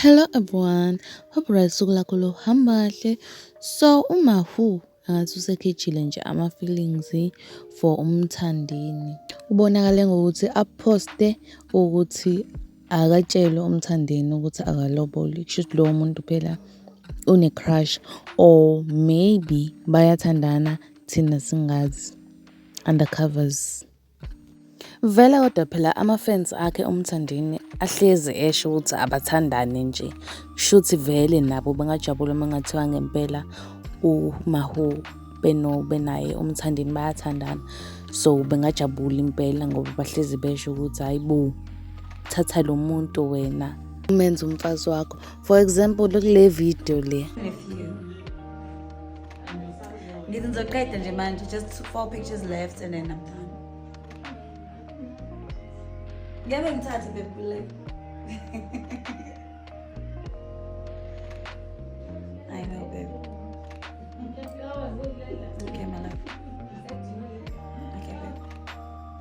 Hello everyone, hope right suku lakho lohamba kahle. So uMahu angathi usekhejile nje ama-feelings for umthandini. Ubonakale ngokuthi aphoste ukuthi akatshelwe umthandini ukuthi akaloboli. Kusho ukuthi lowo muntu phela une-crush or maybe bayathandana thina singazi. undercovers. Vele kodwa phela ama-fans akhe uMthandeni ahlezi esho ukuthi abathandane nje. Shuthi vele nabo bengajabula uma kungathiwa ngempela uMahu beno benaye uMthandeni bayathandana. So bengajabula impela ngoba bahlezi besho ukuthi hayi bo thatha lo muntu wena umenze umfazi wakho. For example kule video le. ngithi ngizoqeda nje manje just four pictures left and then i'm done ngeke ngithathe bebule i know babe okay my love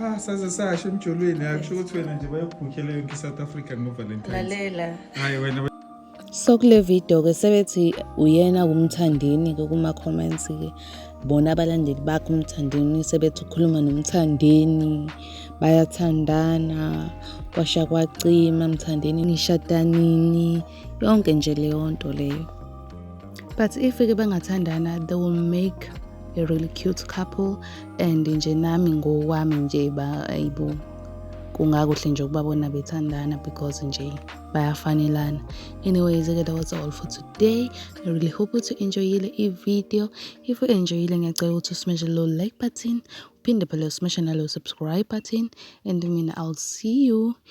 ha saze sasho emjolweni akusho ukuthi wena nje bayokubhukhela yonke i-south africa ngovalentine hayi wena so kule video ke sebethi uyena kumthandini ke kuma comments ke bona abalandeli bakhe umthandini sebethi ukhuluma nomthandini bayathandana kwasha kwacima mthandini nishada nini yonke nje leyo nto leyo but if ke bengathandana they will make a really cute couple and nje nami ngokwami nje ba ayibo kungakuhle nje ukubabona bethandana because nje bayafanelana anyways ke that was all for today i really hope ukuthi enjoyile i-video if u enjoyile ngiyacela ukuthi usimeshe lo like button uphinde phela usimeshe nalo subscribe button and mina i'll see you